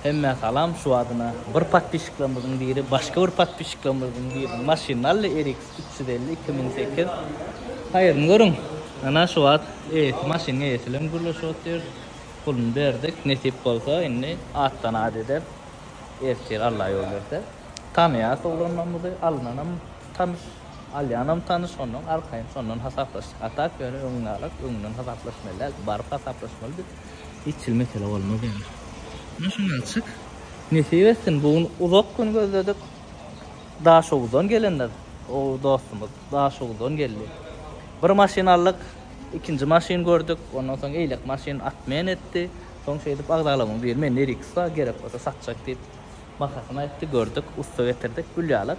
Hemmä salam şu adyna bir podpişiklermizin biri başga bir podpişiklermizin biriniň maşynyny aldy RX üç ýüz elli iki müň sekiz haýyryny görüň ana şu wagt eýesi maşynyň eýesi bilen gürleşip otyr puluny berdik nesip bolsa indi atdan at eder ertir Alla ýol berse tanaýas oglanlarymyzy alynanam tanyş alýanam tanyş şondan arkaýyn şondan hasaplaşyk a tak ýöne öňňalak öňünden hasaplaşmaly däl baryp hasaplaşmaly biz. Itçil mesele bolmaz ýaly. Ine şuny açyk. Nesip etsin bu gün uzak gün gözledik. Daşoguzdan gelenler. O dostumyz Daşoguzdan geldi. Bir maşyn aldyk. Ikinji maşyn gördük. Ondan soň eýlek maşyn atmen etdi. Soň şeýdip agzalamyň biri mende RX bar gerek bolsa satjak diýip bahasyny aýtdy gördük ussa getirdik gül ýaly.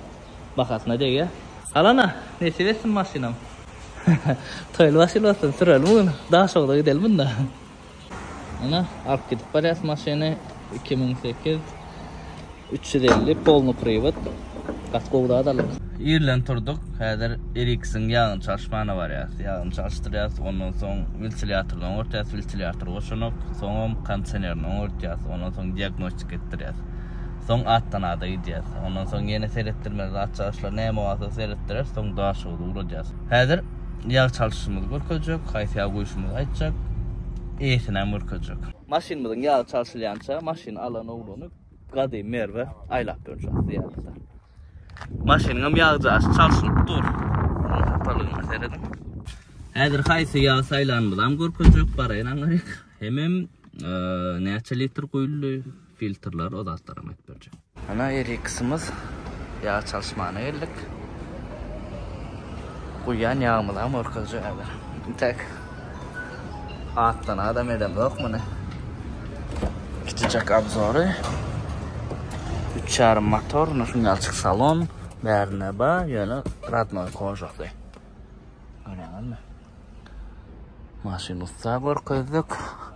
Bahasyna degýär. Alana, nesip etsin maşynam. Toýly başyly bolsun, sürelim bu gün. Daşogza gidelim munda. Ana, alyp gidip barýas maşyny. Iki müň sekiz, üç ýüz elli, polny priwod. Gaty gowy zat aldyk. Irden turdyk, häzir Eriksiň ýagyny çalyşmana barýas. Ýagyny çalyşdyrýas, ondan soň wiltilýatoryny oňartýas, wiltilýatory goşanok. Soňam kondisionerini oňartýas, ondan soň diagnostika etdirýäs. Soň atdan ada gidýäs. Ondan soň ýene seretdirmeli zatçagaçlar näme barsa seretdireris, soň daşyňyzy ugradýas. Häzir ýag çalşyşymyzy görkezjek, haýsy ýagy guýuşymyzy aýtjak, eýesinäm görkezjek. Maşynymyzyň ýagy çalşylýança maşyny alan ogluny Gadymy Merwe aýlap durjak zyýarata. Maşynyňam ýagjaşy çalşynyp dur. Onuň hapalygyna serediň. Häzir haýsy ýagy saýlanymyzam görkezjek, baraýyn aňaryk. Hemem näçe litr guýuldy. Filtrler o zatlaram aýdyp berjek. Ana Eriximiz ýag çalyşmana geldik. Guýýan ýagymyzam ortaja häzir. Intäk atdan adam edem ýok muny. Kiçijek abzory. 3,5 motor, no şuň ýalçyk salon. Bärine ba, ýöne radnoý kožakdy. Görýäňizmi? Maşyn ussa görkezdik.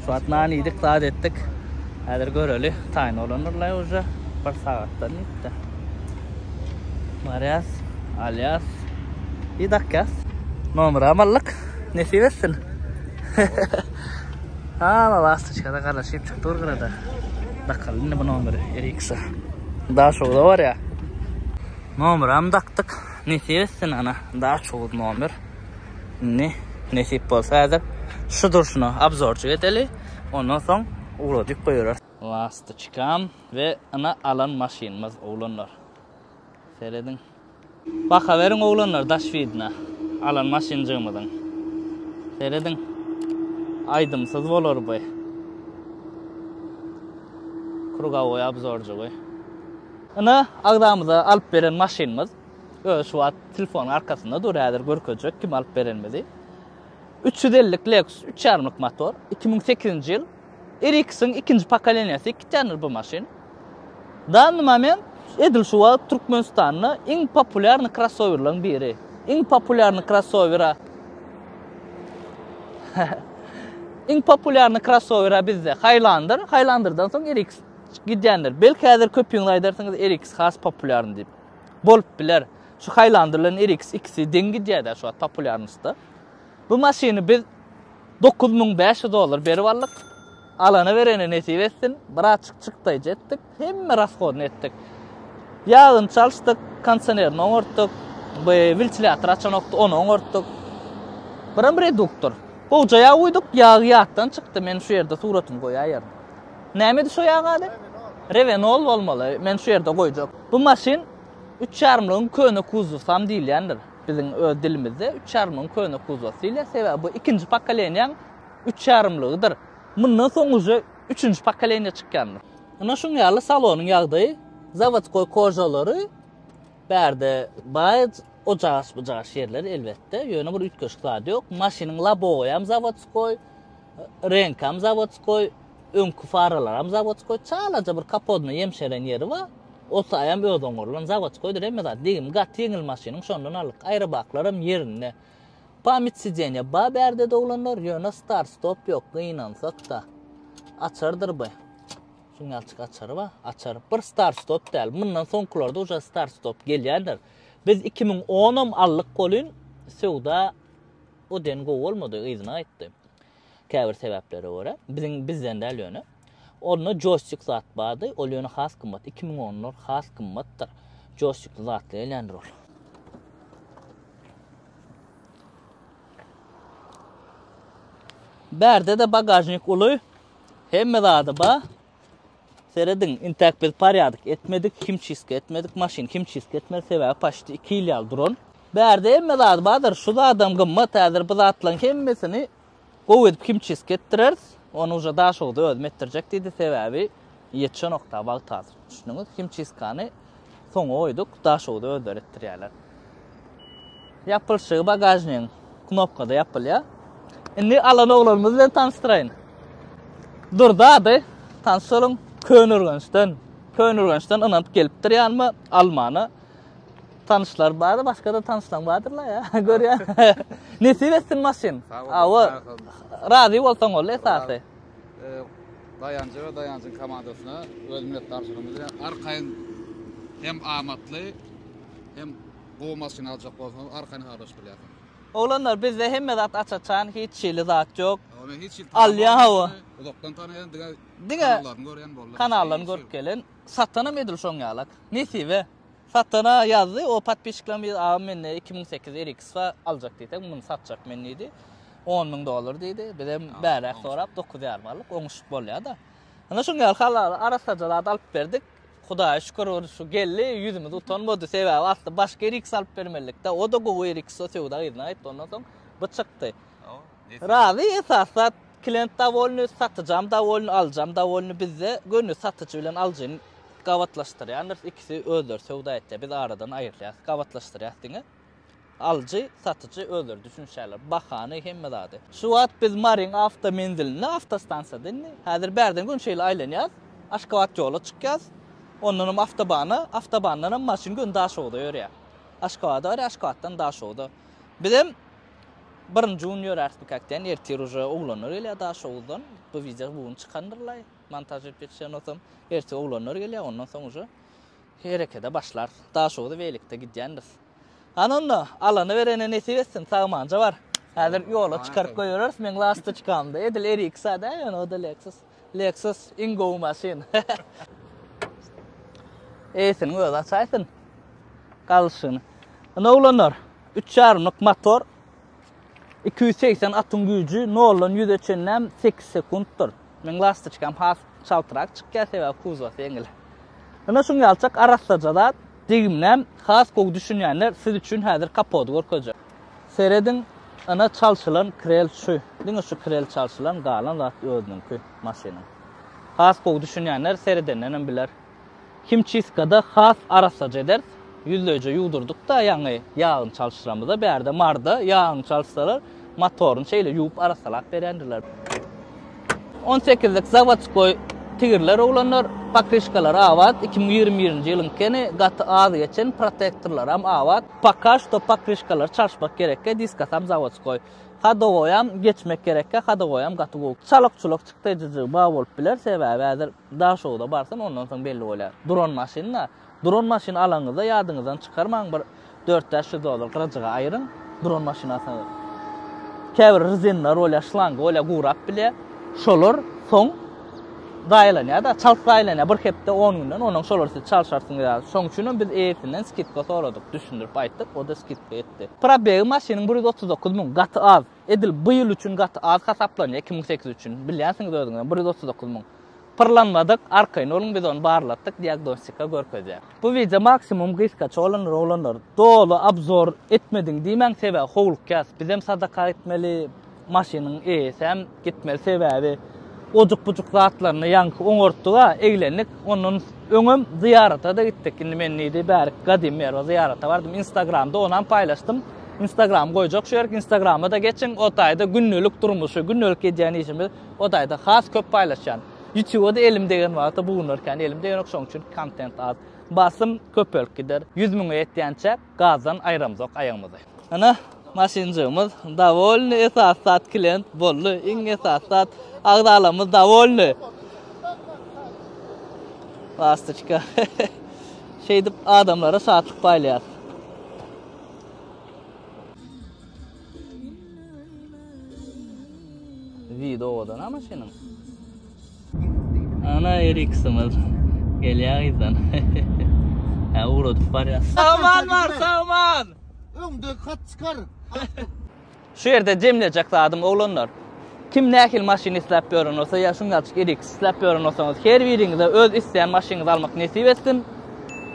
Şu wagt nan iýdik, zat etdik. Häzir göreli, taýyn bolandyr-laý uje. Bir sagatdan diýip-de. Barýas, alýas we dakýas. Nomeram aldyk, nesip etsin. Hama lastoçka-da garaşyp çykdy bir gyra-da. Dakaly indi bu nomeri RX-e. Daşogza barýar. Nomeram dakdyk, nesip etsin ana, Daşoguz nomer. Indi nesip bolsa häzir şu durşuna obzorjyk edeli, ondan soň ugradyp goýberers. Lastoçkam we ina alan maşynymyz oglanlar. Serediň. Bakaweriň oglanlar daş widna alan maşynjygymyzyň. Serediň. Aýdymsyz bolar bu. Krugowoý obzorjygy. Ina agzamyza alyp beren maşynymyz. Özi şu wagt telefonyň arkasynda dur häzir görkezjek kim alyp berenimizi. Üç ýüz ellik Lexus üç ýarymlyk motor, iki müň sekizinji ýyl. RX-iň ikinji pokoleniýasy iki tänedir bu maşyn. Danny moment edil şu wagt Türkmenistanda iň populýarny krossowerlaryň biri. Iň populýarny krossowera Iň populýarny krossowera bizde Highlander, Highlanderdan soň RX gidýändir. Belki häzir köpüňiz aýdarsyňyz RX has populýarny diýip. Bolup biler. Şu Highlander bilen RX ikisi deň gidýär-dä şu wagt populýarnostda. Bu maşyny biz dokuz müň bäş ýüz dollar berip aldyk. Alana-berene nesip etsin. Birazjyk çykdaýjy etdik. Hemme rashodyny etdik. Ýagyny çalyşdyk, kondisionerini oňartdyk. Bu wiltilýator açanokdy, ony oňartdyk. Biram reduktor. Gowja ýag guýduk, ýagy ýatdan çykdy. Men şu ýerde suratyny goýaýaryn. Nämedi şu ýaň ady? Revenol bolmaly, men şu ýerde goýjak. Bu maşyn üç ýarymlygyň köne kuzowsam diýilýändir. Biziň öz dilimizde üç ýarymlygyň köne kuzowsy diýilýär, sebäbi bu ikinji pokolenýäň üç ýarymlygydyr. Mundan soň uje üçünji pokoleniýa çykýandyr. Ine şuň ýaly salonyň ýagdaýy, zawodskoý kožalary, bärde baý ojagaş-bujagaş ýerler elbetde, ýöne bir üýtgeşik zat ýok. Maşynyň lobowy hem zawodskoý. Reňkam zawodskoý, öňki faralaram zawodskoý, çalaja bir kapodna ýemşeren ýeri bar. Ol saýam özüň gurlan, zawodskoýdyr hemme zat. Degim gaty ýeňil maşynyň, şondan aldyk. Aýrabaklarym ýerinde. Pamyt sidenýa bar bärde doglanlar, ýöne start-stop ýok, gynansak-da. Açardyr bu. Şuň ýalçyk açary bar, açar. Bir start-stop däl. Mundan soňkularda uje start-stop gelýändir. Biz iki müň onam aldyk welin söwda O den gowy bolmady, yzyna aýtdy. Käbir sebäplere görä, biziň bizden däl ýöne. Onda joýstik zat bardy, ol ýöne has gymmat, iki müň onlar has gymmatdyr. Joýstikli zatly gelýändir ol. Bärde-de bagažnik uly, hemme zady bar. Serediň, intäk biz parýadyk etmedik, himçistka etmedik, maşyn himçistka etmedi, sebäbi paçti iki ýyl ýaly duran. Bärde hemme zady bardyr, şu zadam gymmat, häzir bu zatlaryň hemmesini gowy edip himçistka etdireris, ony uje Daşoguzda özüm etdirjek diýdi, sebäbi ýetişenok-da wagt häzir, düşündiňiz, himçistkany. Soňa goýduk, daşoguz özleri etdirýärler. Ýapylşygy bagažnigiň knopkada ýapylýar. Indi alan oglanymyz bilen tanyşdyraýyn. Durdy ady, tanyş boluň, Köneürgençden. Köneürgençden ynanyp gelipdir ýanyma almana. Tanyşlar bar, başga-da tanyşlaň bardyrlar ýa, görýän. Nesip etsin maşyn. Awa, razy bolsaň boldy esasy. Daýanja we Daýanjyň komandasyna öz minnetdarçylygymyzy bildirýäris. Arkaýyn hem amatly, hem gowy maşyn aljak bolsaňyz, arkaýyn habarlaşyp bilýärsiňiz. Oglanlar, bizde hemme zat aç-açan, hiç hili zat ýok. Ýok, men hiç hili tanamok. Alýan hawa. Uzakdan tanaýan, diňe Diňe kanallaryny görýän boldy. Kanallaryny görüp gelen. Satanam edil şoň ýalak. Nesibe. Satana ýazdy o podpisçikler bir agam mende iki müň sekiz ýüz RX bar aljak diýseň muny satjak men diýdi on müň dollar diýdi bizem bärek sorap dokuz ýarym aldyk oňuşyp bolýada ine şuň ýaly halala arassaja zat alyp berdik Hudaýa şükür şu geldi ýüzümiz utanmady sebäbi asly başga RX alyp bermelilikde o da gowy RX o söwda gyzyna aýtdy ondan soň bu çykdy razy esas zat Klient dowolny, satyjam dowolny, alyjam dowolny, bizde göni satyjy bilen alyjyny gabatlaşdyrýandyrs, ikisi özleri söwda etýär, biz aradan aýyrýas, gabatlaşdyrýas diňe. Alyjy, satyjy özleri düşünişýärler, bahany, hemme zady. Şu wagt biz Maryň awtomenzilinde, awtostansiýada indi, häzir bärden göni şeýle aýlanýas, Aşgabat ýola çykýas, ondanam awtobana, awtobandanam maşyn göni Daşogza ýörýär. Aşgabada barýar, Aşgabatdan Daşogza. Bizem Birinji gün ýöräris bu kakden ertir uje oglanlar gelýär daşoguzdan bu wideo bu gün çykandyrlaý montaž edip ýetişenosam ertir oglanlar gelýär ondan soň uje herekede başlar daşoguza welikde gidýändiris hany onda alany berene nesip etsin sagmanja bar häzir ýola çykaryp goýbereris meň lastoçkamda edil eriksa da ýöne oda leksus. Lexus iň gowy maşyn. Eýsiniň özi açaýsyn galşyny. Ine oglanlar, üç ýarymlyk motor, iki ýüz segsen atyň güýji, noldan ýüze çenlem sekiz sekuntdyr. Meň lastoçkam has çaltrak çykýar, sebäbi kuzowasy ýeňil. Ine şuň ýalyçak arassaja zat, degimläm has gowy düşünýänler siz üçin häzir kapody görkezjek. Serediň, yna çalşylan krel şu. Diňe şu krel çalşylan, galan zat özüniňki maşynyň. Has gowy düşünýänler seredendenem biler. Himçistkada has arassaja ederis. Ýüzleýje ýuwdurdyk-da ýaňy ýagyny çalşyramyza, bärde marda ýagyny çalşsalar, motoryny şeýle ýuwup arassalap berýändirler. On sekizlik zawodskoý tigirler oglanlar, pokryşkalary abat, iki müň ýigrimi birinji ýylyňkeni, gaty az geçen, protektorlaram abat. Poka şto pokryşkalary çalyşmak gerekge diska tam zavodskoý. Hadowoýam geçmek gerekge hadowoýam gaty gowy. Çalyk çuluk çykdy jyjy ba bolup biler sebäbi häzir da şowda barsyn ondan soň belli bolýar. Duran maşyn da. Duran maşyn alanyňyzda ýadyňyzdan çykarmaň bir dört bäş ýüz dollar gyrajaga aýyryň duran maşyn alsaňyz. Käbir rzinler bolýar şlangy bolýar gurap bilýär. Şolar soň. Zaýalanýar-da, çalt zaýalanýar, bir hepde, on günden, onuň şolar siz çalyşarsyňyz ýaly. Şoň üçinem biz eýesinden skidka soradyk, düşündirip aýtdyk, o-da skidka etdi. Probegi maşynyň bir ýüz otuz dokuz müň, gaty az. Edil bu ýyl üçin gaty az hasaplanýar, iki müň sekiz üçin. Bilýänsiňiz özüňizem, bir ýüz otuz dokuz müň. Pyrlanmadyk, arkaýyn boluň, biz ony barlatdyk, diagnostika görkezýär. Bu wideo maksimum gysgaça bolan rolanlar doly abzor etmediň diýmäň sebäbi howluk ýas bizem sadaka gitmeli maşynyň eýesem gitmeli sebäbi ojuk bujuk zatlaryny ýaňky oňartdyga eglendik ondan öňem zyýaratada gitdik indi men nidi bärik gadymy merwa zyýarata bardym instagramda onam paýlaşdym instagram goýjak şu ýerik instagramada geçiň otaýda gündelik durmuşy gündelik edýän işimi otaýda has köp paýlaşýan. Ýutube-da elim degen wagta bu günler kän elim degenok şoň üçin kontent az. Basym köpelip gider. Ýüz müňe ýetýänçä gazdan aýramzok aýagymyzy. Ana maşynjygymyz dowolny esasy zat klient boldy iň esasy zat agzalamyz dowolny. Lastoçka. Şeýdip adamlara şatlyk paýlaýas. Wid owadan ama senin. Ana Eriksimiz. Gelýär izden. Ha ugradyp barýar. Saman bar, saman. Öňde kat çykar. Şu ýerde jemlejek zadym oglanlar. Kim nähili maşyn isläp ýören bolsa ýa şuň ýaly RX isläp ýören bolsaňyz, her biriňize öz isleýän maşynyňyzy almak nesip etsin.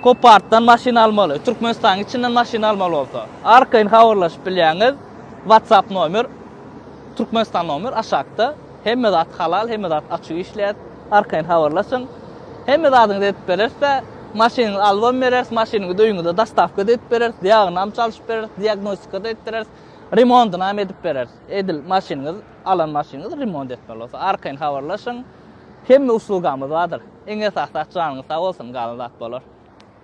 Kopartdan maşyn almaly, Türkmenistanyň içinden maşyn almaly bolsa, arkaýyn habarlaşyp bilýäňiz, WhatsApp nomer, Türkmenistan nomer aşakda. Hemme zat halal, hemme zat açyk işleýäs, arkaýyn habarlaşyň. Hemme zadyňyzy edip bereris-de, maşynyňyzy alybam bereris, maşynyňyzy öýüňize dostawka-da edip bereris, ýagynam çalşyp bereris, diagnostika-da edip bereris, remondynam edip bereris. Edil maşynyňyz, alan maşynyňyzy remont etmeli bolsa, arkaýyn habarlaşyň. Hemme uslugamyz bardyr. Iň esasy zat janyňyz sag bolsun, galan zat bolar.